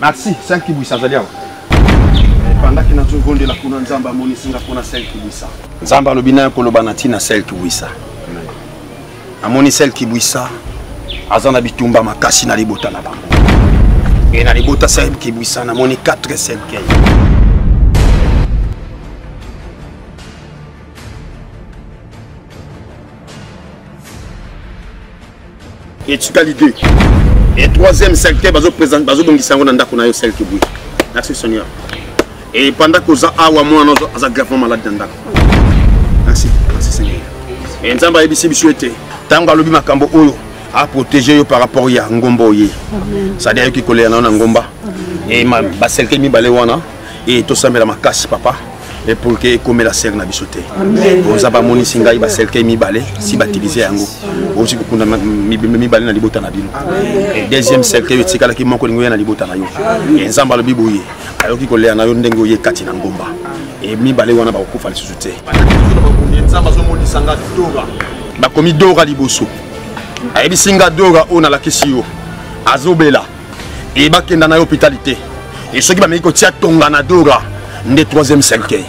Merci, 5 kibwisa azali awa. Ebandaki na tozondela kuna Nzambe amonisi nga mpo na 5 kibwisa. Nzambe alobi nayo koloba na ntina 5 kibwisa. Namoni 5 kibwisa aza na bitumba makasi na libota na bango. E na libota 5 kibwisa namoni 4 cercueil. etikali deux e troisième secteur bazobongisa yango na ndako na yo selke boye merci seigneur e panda koza awa mwana aza gravement malade na ndako merci merci seigneur e nzambe ayebisi biso ete ntango alobi makambo oyo aprotege yo par rapport ya ngomba oye sadi ayoki kolela na yo na ngomba e baselke mibale wana e tosambela makasi papa et pour que ekomela serre na biso te nzambe amonisi ngai baserkei mibale si batilize yango okoki kokunda mibale na libota na bino deuxième cercueil oyo etikalaki moko lingo ya na libota na yo nzambe alobi boye ayoki kolela na yo ndenge oye kati na ngomba e mibale wana bakokufa lisusu te bakomi dora liboso ayebisi nga dora oyo nalakisi yo azobela Et bah, kenda na hôpitalité. Et ceux qui va me dire que tu as ton ganadora, le troisième cercueil.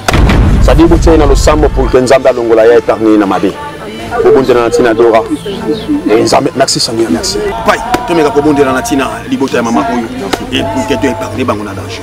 Ça dit que tu es dans le sang pour que Nzamba Longola ait éternué dans ma vie. kobondela na ntina dora nzambe merci seigneur merci pai tomeka kobondela na ntina libota ya mama oyo ekuketo epargne bango na danger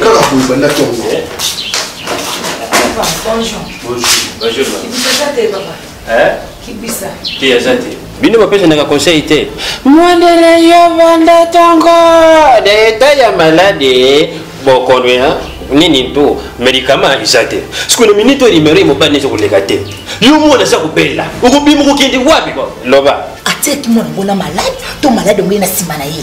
kaka boye bandaki yango bino bapesanaka conseil te mondele yo banda ntongo na eta ya maladi bokono ya nini to medikama eza te siko na minute oyo nimero ye mobali neza koleka te yo mwana aza kobela okobima okokende wapi loba atiaki mwana ngo na malade to malade yango ye na nsima na ye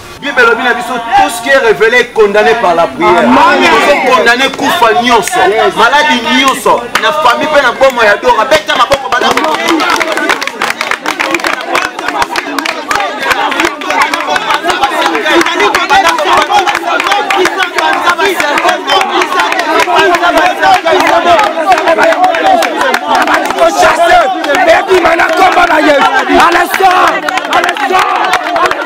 bible elobi na biso tout ce qui est révélé est condamné par la prière ozo condamné kufa nyonso maladi nyonso na famille mpe na bomo ya dora beta maboko bana Chasseur, baby, man, I come by my head. Alassane, Alassane.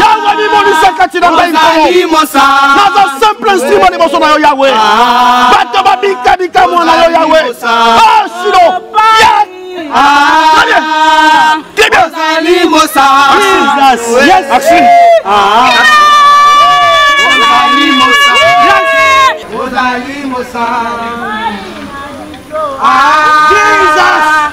yawe mimonisa kati na ngai nkomo naza simple instrument liboso na yo yawe bato babika bikamwa na yo yawe asilo Ozali mosa. Ah.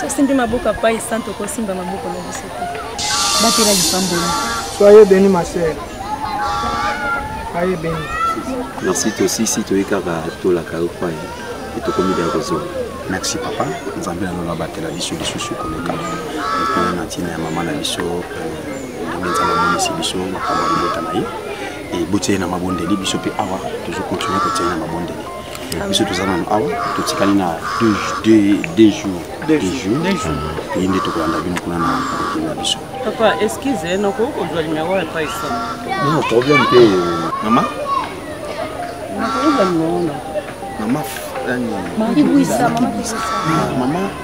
sosimbi maboko apai santo okosimba maboko na biso te batela lipamboli soye beni ma sœur aye beni merci tosisi toye kaka tolaka yo pai e tokomida ya kozonga merci papa nzambe na lola batela biso lisusu koleka epe na ntina ya mama na biso euh, ntango nzambe amonisi biso makambo ya libota na ye ebotia ye na mabondeli biso mpe awa tozokontinue kotia ye na mabondeli biso toza nano awa totikali na deux jours toye nde tokolanda bino kuna na kokende na biso papa eskize eh, nakoki kozwa limero ya paisa no problème te mama nakoki kozwa limero na mama nani mama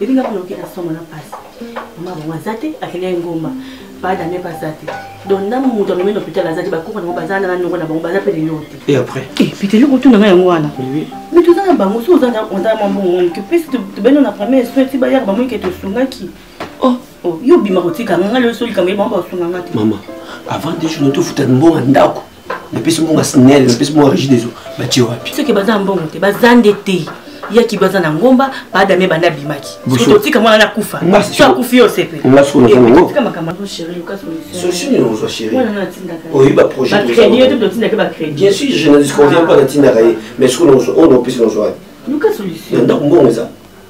Bebe nga kuna okita somo na pasi. Mama bongo aza te akende ya ngomba. Ba dame ba za te. Donc na mutu amemi na hôpital aza te bakoko na bango baza na noko na bango baza pe lelo te. Et après? Eh puis telo kotuna nga yango wana. Oui. Mais toza na bango so oza na oza na mbongo wangu ke pesi tobeno na premier soin ti bayaka bango eke tosungaki. Oh. Oh, yo bima kotika nga lelo so likambo ye bango basunga nga te. Mama, avant des jours tofuta mbongo ndako. napesi mbongo ya snel napesi mbongo ya régie des eaux batie wapi soki baza mbongo te baza nde te yaki baza na ngomba baadame banda abimaki totika mwana na kufa so akufi yo sepe ndako mbongo eza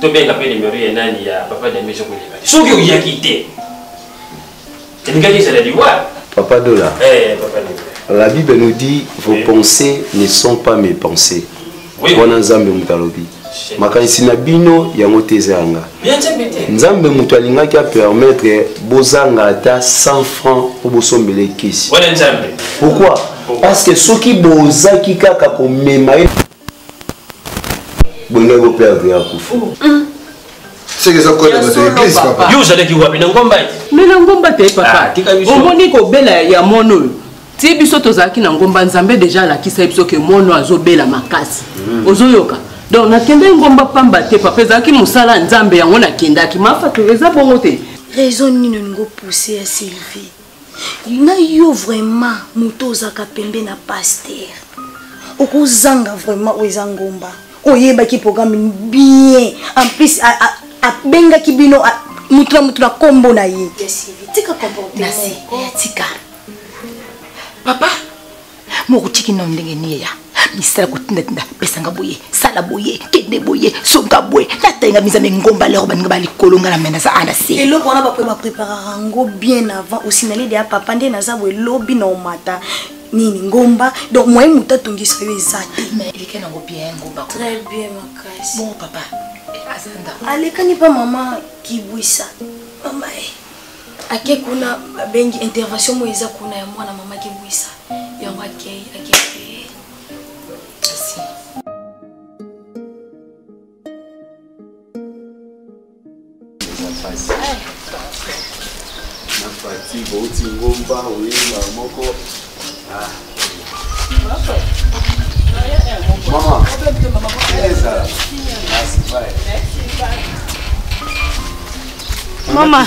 tobenga mpe nimero ya nani ya papa dembe soki oleka te soki oyaki te elingaki ezala liwa papa dola eh, papa dola la bible nous dit vos eh. pensées ne sont pas mes pensées wana nzambe moto alobi makanisi na bino yango te eza ya nga nzambe moto alingaki apermettre bozanga ata 100 franc mpo bosombele kisi pourquoi parce que soki bozaki kaka komema ye bolinga ko perdre ya kufa seke eza kode bato ya eglise papa yo ozalaki wapi na ngomba me na ngomba te papa ah, omoni kobela ya mono oyo ti biso tozalaki na ngomba nzambe deja alakisa biso ke mono azobela makasi hmm. ozoyoka donc nakendaki ngomba pamba te papa ezalaki mosala ya nzambe yango nakendaki mafatu eza bongo te raison nini olingi opousse ya sylvie na yo vraiment moto ozaka pembe na paster okozanga vraiment oyo eza ngomba oyebaki programme bien en plus abengaki bino motu na motu na nkombo na ye tika papa mokotiki nao ndenge nie ya misala kotindatinda pesanga boye sala boye kende boye songa boye natayenga mizambe ngomba lero baninga ba likolo nga na mena za ana se eloko wana bakoye bapreparaka yango bien avant osinali deya papa nde naza boye lobi na omata nini ngomba donc moye moto atongisa yo eza te eleke nango bien ngomba très bien makasi bon papa eh, alekani mpa mama kibwisa mama e eh. ake kuna babengi intervention moyo eza kuna ya mwana mama kebwisa yango akei akei na fati bouti ngomba oyeba moko ah. Maman, Teresa. Merci, bye. Maman.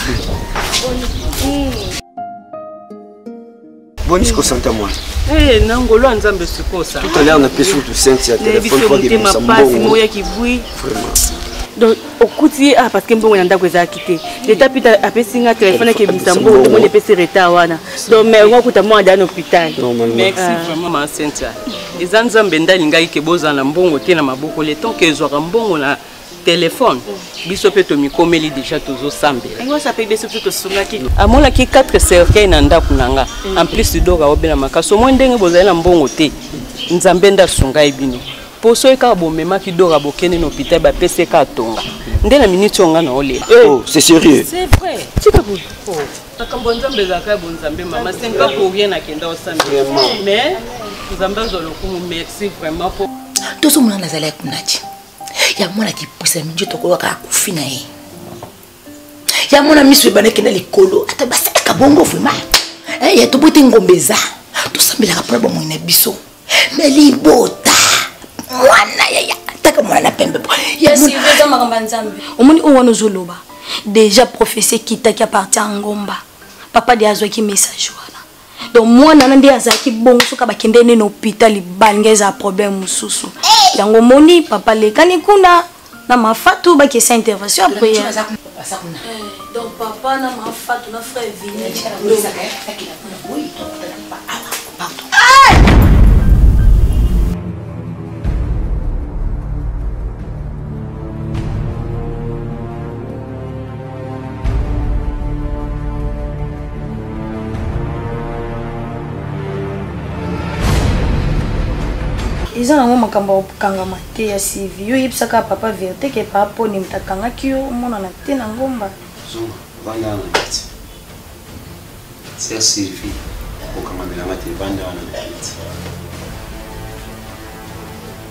boni sikosanta mwana eh, na ngolo ya nzambe sikosa tout à l'heure napesi kutu sente ya telefone po akebimisa mbongo moya kibwi vraiment donc okuti ye ah parce que mbongo na ndako ezalaki te leta mpe apesi nga telefone akebimisa mbongo tomoni epesi retard wana donc mais yango akuta mwana daya na hôpital merci ah. vraiment ma cynthia eza nzambe nde alingaki ke bozala na mbongo te na maboko le temps ke ezwaka mbongo na telefone biso mpe tomikomeli deja tozosambelaamonaki 4 cercueil na ndako na nga en plus doka obela makasi omoi ndenge bozali na mbongo te nzambe nde asungai bino po soki kaka bomemaki dora bokende na hôpital bapesi ye kaka tonga nde na minute oyo nga na olela eh. oh, c'est sérieux c'est vrai tika boye oh. makambo ya nzambe ezalaka ya bonzambe mama senka po rien nakenda osambela mais nzambe azwa lokumu merci vraiment po tozomona nazali ya kunati ya mwana kipusa mingi tokoyoka akufi na ye ya mona miso ebandaki na likolo ata basalaka bongo vraimen eh, ya tobote ngombe eza tosambelaka mpona bomoi na biso me libota mwana yaya ataka mwana na pembe omoni oyo wana ozoloba deja prophesie ekitaki apartir ya ngomba papa de azwaki message wana donc mwana na nde azalaki bongo soki abakende nde na hôpital libanga ezala problème mosusu yango omoni papa lekani kuna na mafatu bakesa intervention après donc papa na mafatu na frère vini eza nango makambo ya kokangama te ya sivi yo oyebisaka papa verité ke papa poni moto akangaki yo omonana te na ngomba vanda wana neti sia sivi kokangamelanga te vanda wana neti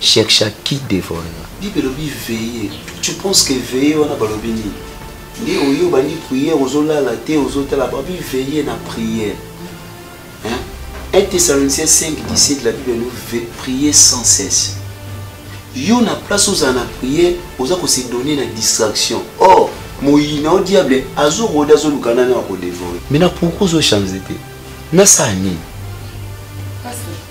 cherche à qui dévorera bible elobi veille tu penses que veille wana balobi nini nde oyo obandi prière ozolala te ozotala babi veille na prière 1 Thessaloniciens 5, 17, la Bible nous veut prier sans cesse. Yo na place aux en prier, aux a se donner la distraction. Or, moyina au diable, azo roda zo lukana na ko dévorer. Mais na pourquoi zo changer nasala nini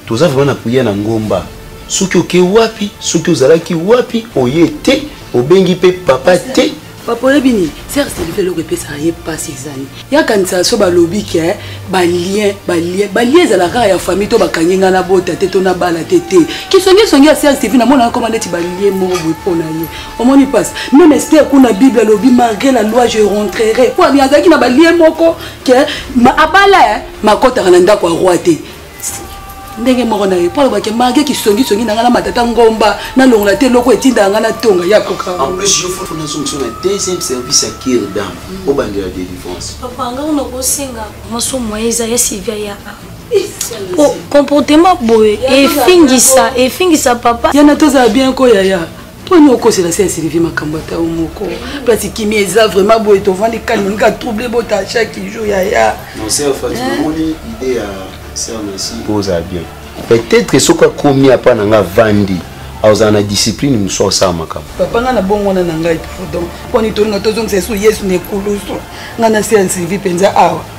toza vraimen na priere na ngomba soki oke wapi soki ozalaki wapi oye te obengi mpe papa te papa oyebi nini serge selife eloko epesaka ye mpasi ezali yakanisa so balobi ke balien balien balien ezalaka kaka ya famille to bakangi ngai nabota te to nabala te te kisongisongi ya serge selife namonaka koma neti balien moko boye mpo na ye omoni mpasi meme ester kuna bible alobi malgré la loi je rentrerai mpo azalaki na balien moko ke ma abala eh, makotaka na ndako ya roi te ndenge moko na ye mpo alobaki marge kisongisongi na ngai na matata ngomba nalongola te eloko etindaka ngai natonga ya koka en plus yo foto nazongisa na deuxième service ya kir dame mm. obandela délivrance papa ngai nakosenga maso moye eza ya sylvia ya oh, comportement boye efingisa efingisa papa yana tozala bien ko yaya poni okosela se ya sylvie makambo ata yo moko place kimia eza vraiment boye tovandi kani olinga trouble bota chaque jour yaya oza bien peut-être soki akomi apa na nga vandi azala na discipline mosusu asala makambo papa ngai na bongo wana na ngai pardon poni tolinga tozongisa esu yesu na ekulusu ngai na se ya sylvie mpenza awa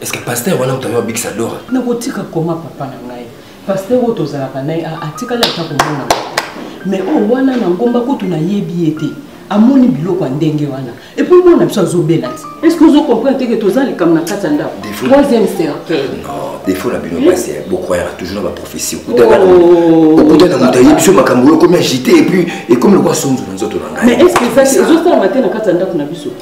est ce que pasteur wana moto ayo abikisa dora nakotika koma papa na ngai pasteur oyo tozalaka na ye atikali ata komona mais oyo oh, wana na ngomba kutu nayebi ye te amoni biloko ya ndenge wana epuis mwana biso azobela te estce ozo comprendre teke toza likambo na kati ya ndako troisième cercueil défaut na bino basi bokwayaka toujours na baprophétie okutana oh. moto ayebi biso makambo oyo ekomi agite epuis ekomi lokwa sonzo na nzoto na ngai mais estce ezosalama te na kati ya ndako na biso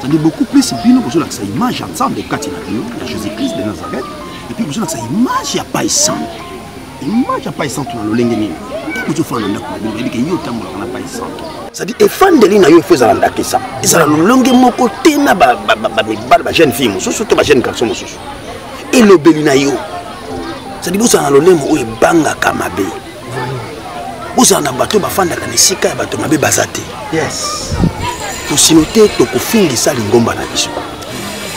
Tandi beaucoup plus bino bozolakisa image ya nzambe kati na bino ya jésus christ de nazareth epuis bozolakisa image ya pai santo image ya pai santo na lolenge nini ntango ozofanda na ndako na bino oyebi ke yo otambolaka na pai santo cetadi efandeli na yo efo ezala ndakisa ezala lolenge moko te na bamibale bajeune fille mosusu to bajeune garçon mosusu elobeli na yo cetadi bozala na lolemo oyo ebangaka mabe bozala na bato bafandaka na esika ya bato mabe baza te tosino te tokofingisa lingomba na biso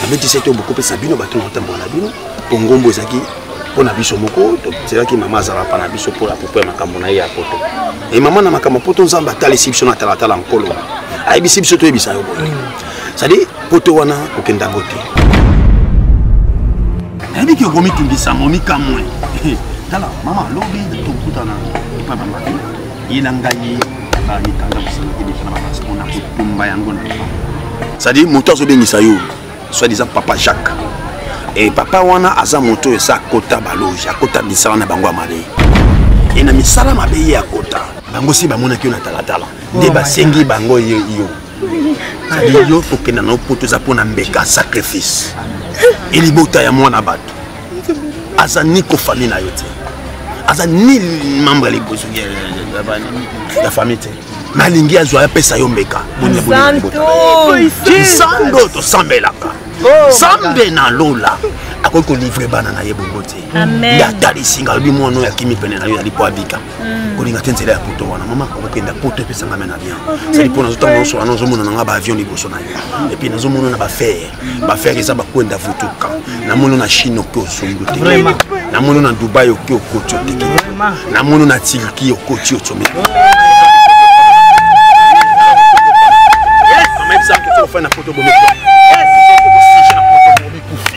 nabetisi te bokopesa bino bato na kotambola na bino mpo ngombo ezalaki mpo na biso moko tozelaki mama azalaka na biso mpo apopo ya makambo na ye ya poto e mama na makambo ya poto nzambe atalisi biso na talatala nkolo ayebisi biso toyebisa yo boye cestadire poto wana kokenda yango te nayebi ke okomitungisa yango mikamwe tala mama lobi tokutana epa bamaki ye na ngai bamikanda mosalaki deja na babasi mpona kotumba yango na cestadire moto azobengisa yo soit disant papa jacques e papa wana aza moto esa akota baloge akota misala na bango ya mabe e na misala mabe ye akota bango si bamonaki yo na talatala nde basengi bango yo yo kokenda na opoto eza mpo na mbeka sacrifice elibota ya mwana bato aza ni kofami na yo te aza ni membre ya famille te nalingi azwa apesa yo mbeka santo tosambelaka oh, sambe na lola akoki kolivre bana na ye bongo te nde atalisi nga alobi mwana oyo akimi pene na yo yali mpo abika Mm. kolinga te nzela ya poto wana mama okokenda poto epesanga me na bien sali mpo nazotanga nyonso wana ozomona na ngai baavion liboso na yo epuis nazomona na bafere bafere eza bakwenda vutuka namoni na chine oke osombi te namoni na dubai oke okoti oteki namoni na turki okoti osomi ofai na poto bomekufi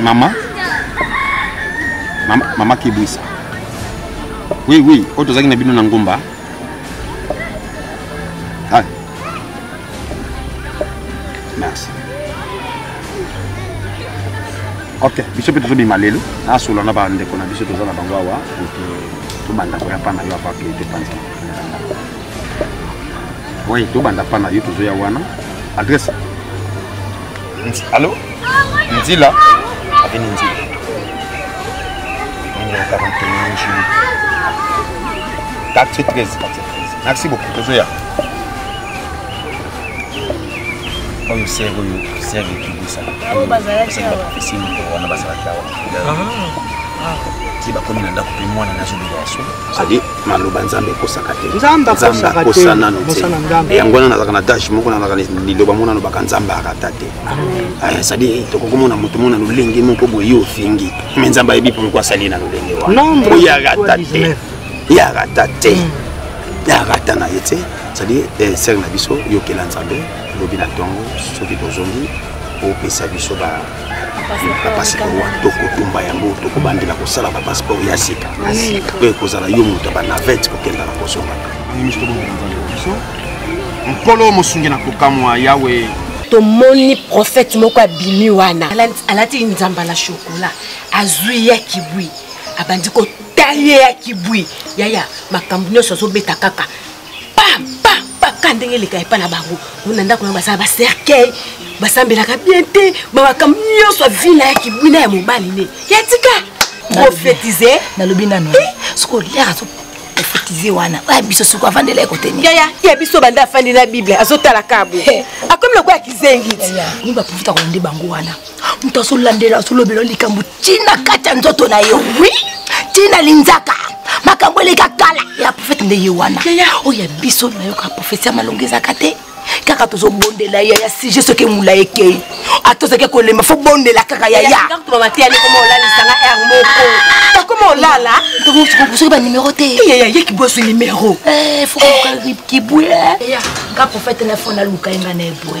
mama mama, mama kibwisa oui oui oyo tozalaki na bino na ngomba ah. merci ok biso mpe tozobima lelo nasola na bandeko na biso toza na bango awa tobanda koya mpa na yo apake topanzana Oui, tout banda pas na YouTube ya wana. Adresse. Allô Nzila Avenue Nzila. Numéro 41 Julie. 413 413. Merci beaucoup. Tozoya. oyo sere oyo sere ekibisa wana bazalaki awa ti bakomi na ndako mpe mwana nazobela ya solo cestadi maloba nzambe ekosaka te nzambe akosa nano te yango wana nazalaka na dashe moko nazalaka liloba mona alobaka nzambe arata te cestadi ah, eh, tokoki komona moto mona lolenge moko boye ofingi me nzambe ayebi mpo moko asali na lolenge wana oyo arata te ye arata te ye arata na ye te cestadi eh, sere na biso yokela nzambe lobi na ntongo soki tozongi opesa biso ba bapasiport wana tokotumba yango tokobandela kosala bapasiport ya sika mpe ekozala yo moto ya banavete kokenda na kozonga nkolo mosungi na kokamwa yawe tomoni profete moko abimi wana alati nzamba na shokola azwi ya kibwi abandi kotaye ya kibwi yaya makambo nyonso azobeta kaka paka ndenge eleka epai na bango na ndako yango basala bacercueil basambelaka bien te bamakambo nyonso ya vi na ya kibwina ya mobali ne ya tika profetize nalobi nano eh? soki oliaka profetize wana oya biso soki avandela ye kote nini yaya ya biso banda afandi na bible azotala kabo akomi lokola kizengi ti baprofita kolande bango wana moto azolandela azolobela likambo ntina kati ya nzoto na yo wi ntina linzaka makambo eleka kala ya profete nde ye wana oyo ya biso nayoka profesi ya malonga ezaka te kaka tozobondela ya ya sujet soki emula ekei ata ozaki kolemba fo bondela kaka yayaakoma olala soki banimero te kibweswi nimero kibwe nga profete na fo naluka enga na ebwe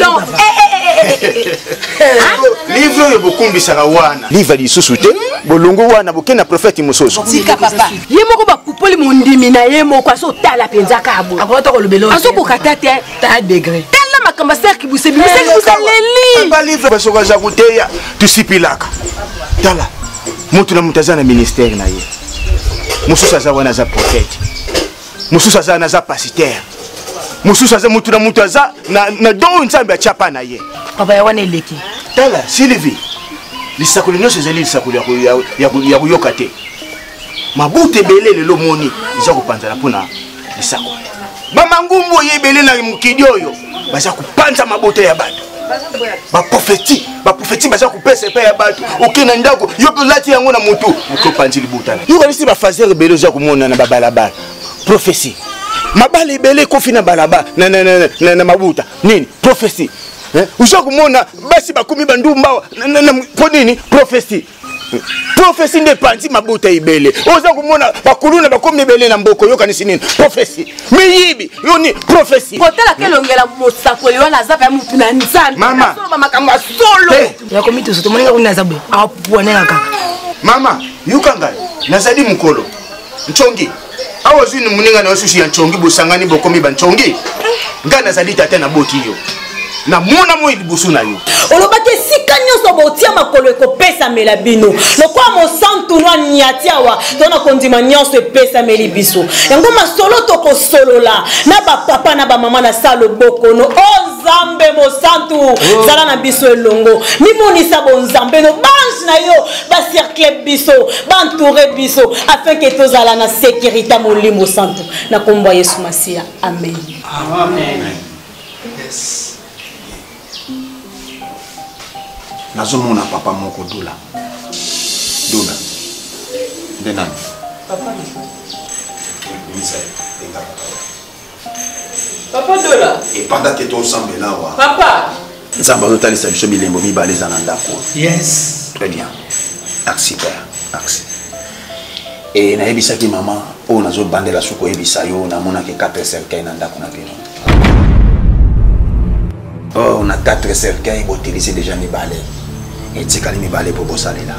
donc eh, eh, livre oyo bokumbisaka wana livre lisusu te bolongo wana bokei na profete mosusu tika papa ye moko bakupoli mondimi na ye moko azotala mpenza kabo azokoka ta te ta degre tala makambo aserki busebibusalelibasoki aza koteya tosipilaka tala moto na moto aza na ministère na ye mosusu aza wana aza profete mosusu aza na aza pasiteurs mosusu aza motu na motu aza na, na do oyo nzambe atya mpa na ye papa ya wana eleki tala sylvie lisakoli nyonso ezali lisakoli ya koyoka te mabuta ebele lelo omoni eza kopanzana mpo na lisakoli bamangumbu oyo ebele na mokili oyo baza kopanza mabota ya bato baprofeti baprofeti baza kopesa epai ya bato oke na ndako yo mpe olati yango na motu moke opanzi libutana yo kanisi bafasere ebele oza komona na babalabala profesi mabala ebele ekofi na balabala na, na, na, na, na mabuta nini profesi eh? oza komona basi bakomi bandumbawa mpo nini profesi profesi nde epanzi mabota ebele oza komona bakuluna bakomi ebele na mboko oyokanisi nini profesi miyibi yoni profesi kotalaka hmm. elongela mosakoli wana aza mpe motu na nzambeoloba makambo ya solo eh. yakomitusu tomoningakuni aza boye apwanelaka mama yoka ngai nazali mokolo ncongi awa ozwi moninga na yo susu ya ncongi bosangani bokomi bancongi ngai nazali tata naboti yo namona moi liboso na yo olobaki esika nyonso botia makolo ekopesamela bino lokola mosantu no anyati awa to na kondima nyonso epesameli biso yango masolo tokosolola na bapapa na bamama na sa lobokono o oh, nzambe mosantu oh. zala na biso elongo mimonisa bonzambe no bange na yo bacercle biso baentoure biso afin ke tozala na sécurité molimo santu na nkombo ya yesu masiya amen, amen. Yes. nazomona papa moko dola dola nde nani Papa Dola. Et pendant que ton sang est là, wa. Papa. Nzamba nous talisa biso bilembo mibale za na ndako. Yes. Très bien. Merci père. Merci. Et nayebisaki maman oyo oh, nazobandela soki koyebisa yo namonaki 4 cercueil na ndako na bino or oh, na 4 cercueil botilise déjà mibale etikali mibale mpo bosalela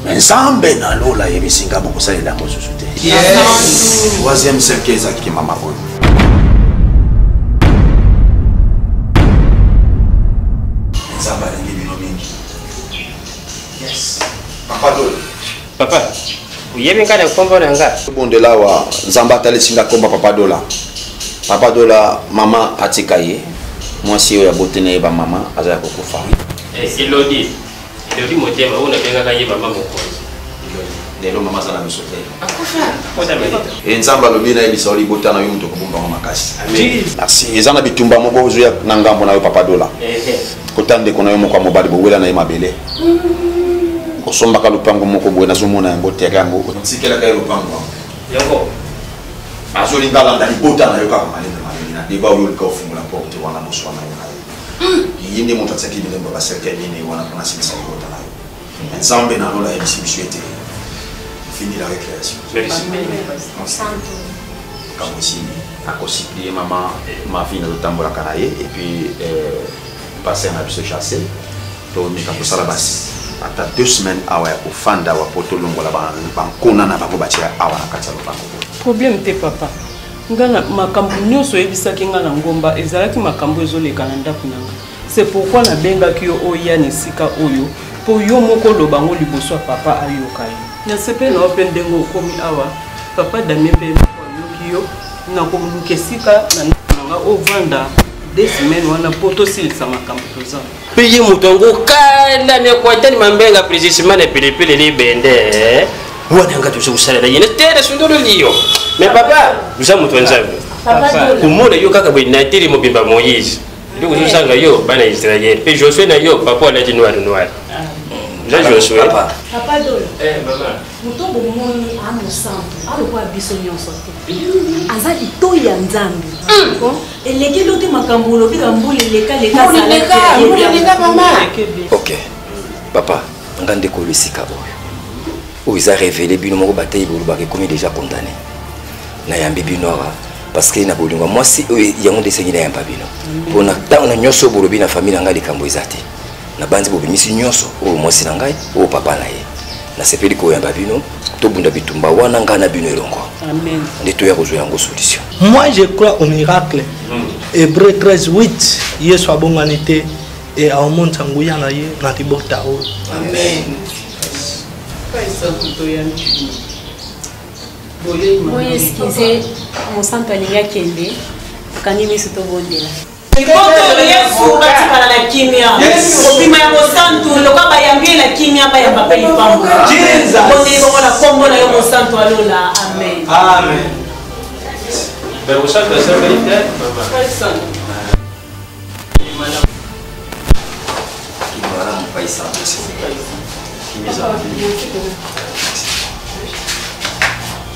Mais Nzambe na lola yebisi nga bokosalela yango susu te. Yes. Troisième cercle ezalaki mama oyo. Nzambe alingi bino mingi. Yes. Papa Dole. Papa. oyebi ngai na nkombo na nga obondela awa nzambe atalisi nga nkombo papa dola papa dola mama atika ye mwasi oyo aboti na ye bamama aza ya kokufa eh, elodi Elodi motema oyo nabengaka ye mama mokonzi. lelo mama aza na miso te e nzambe alobi nayebisa yo libota na yo moto okobomba yango makasi merci eza na bitumba moko ozoya na ngambo na yo papa dola kota ndeko na yo moko ya mobali bowela na ye mabele osombaka lopango moko boye nazomona yango tere yango otikelaka ye lopango yango azolinga alanda libota na yo kaka malende malende na deba oyo olika ofungola porte wana boswana yo ye nde moto atiaki bilembo ya baserkei minei wana mpona asilisa libota na yo me nzambe na lola ayebisi biso ete fini la récréation makambo esili akosiplie mama mavine azotambolaka na ye epuis euh, paster na biso chasse tomeka kosala basi ata deux semaines awa ya kofanda awa mpo tolongola bankona na bango batya awa na kati ya lopango problème te papa ngana makambo nyonso oyebisaki ngai na ngomba ezalaki makambo ezoleka na ndako na ngai se pourkui nabengaki yo oya na esika oyo mpo yo moko oloba yango liboso ya papa ayoka yo nasepeli na yo mpe ndenge okomi awa papa damie mpe ayoki yo nakoluka esika na ndako na ngai ovanda de semaine wana mpo tosilisa makambo toza mpe ye moto yango kanda miakuatani mambenga prezisimana pilipili libende eh? wana nga toza kosalela yene te na sundolo liyo me papa oza moto ya nzambe komona yo kaka boye nateli mobimba moïse nde kozosanga yo bana israel mpe josue na yo papa alati noir noir oza josue moto bomoni a mosantu a lokola biso nyonso te aza litoi ya nzambe hmm. elekeli ote makambo olobi na mbula elekalekaaoke papa nga ndeko oyo esika oyo oyo eza révélé bino moko bateyi bolobaka ekomi déjà condamné nayambi bino awa parce que na bolingo mwasi oyo yango nde esengi nayamba bino mpo na ntango na nyonso bolobi na famille na ngai likambo eza te nabanzi bobimisi nyonso oyo mwasi na ngai oyo papa na ye nasepeli koyamba bino tobunda bitumba wana ngai na bino elongo nde toya kozwa yango solution moi je crois au miracle hmm. hébreu 13 8 yesu abongani te e aomonisa nguya na ye na libota oyo boye eskize mosantu alingi akende kangi miso tobondela Boto Yesu batikala na kimia kobima ya mosantu lokola bayambi ye na kimia bayamba mpe lipambo bondeli bongo na nkombo na yo mosantu ya lola amen amen Berusaka sasa ile Kimaramu paisa. Kimaramu paisa.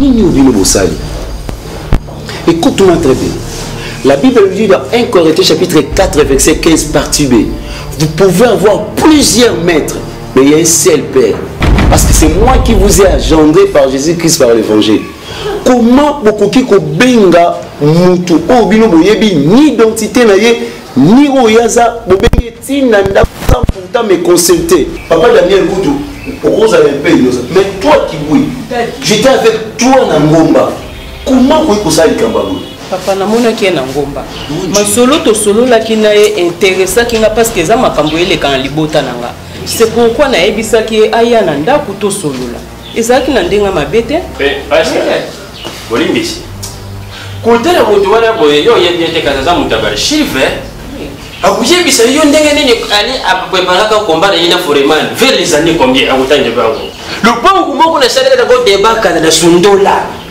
nini obino bosali écoute-moi très bien la bible dit dans 1 corinthiens chapitre 4 verset 15 partie b vous pouvez avoir plusieurs maîtres Mais il y a un seul Père. Parce que c'est moi qui vous ai engendré par Jésus-Christ, par l'Évangile. Comment bokoki kobenga mutu oyo bino boyebi ni identité na ye ni oyo aza bobengi etina ndako sans pourtant me consulter papa daniel kutu okozala un peu inosa mais toi kibui j'étais avec toi na ngomba comment okoki kosala likambo yango papa namonaki ye na ngomba masolo tosololaki na ye interesaki nga parce que eza makambo eleka na libota na nga c'est pourquoi nayebisaki ye aya na ndako tosolola ezalaki na ndenge mabe te bolimbisi kotala moto wana boye yo oyebi ete kasi aza moto ya bachive akoyebisa yo ndenge nini ali apreparaka komba na ye na foreman vers les années combien akotangela bango lopango moko nasalelaka ko debakana na sundola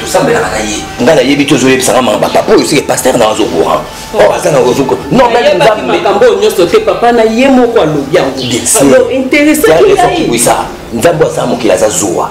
tosambelaka na ye ngai nayebi te ozoyebisanga mama bapapa oyo seke paster na azo courant oyo aza na ozoko nonmakambo oyo nyonso te papa na ye moko alobi yango intéressaki ngai nzambe aza mokili aza zuwa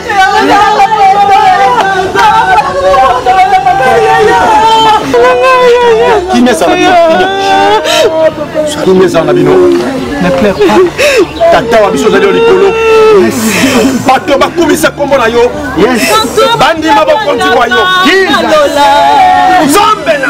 kimia ezala kimia ezala na bino ne pleure pas tata wa biso ozali yo likolo bato bakumisa nkombo na yo bandima bokonzi bwa yo nzambe na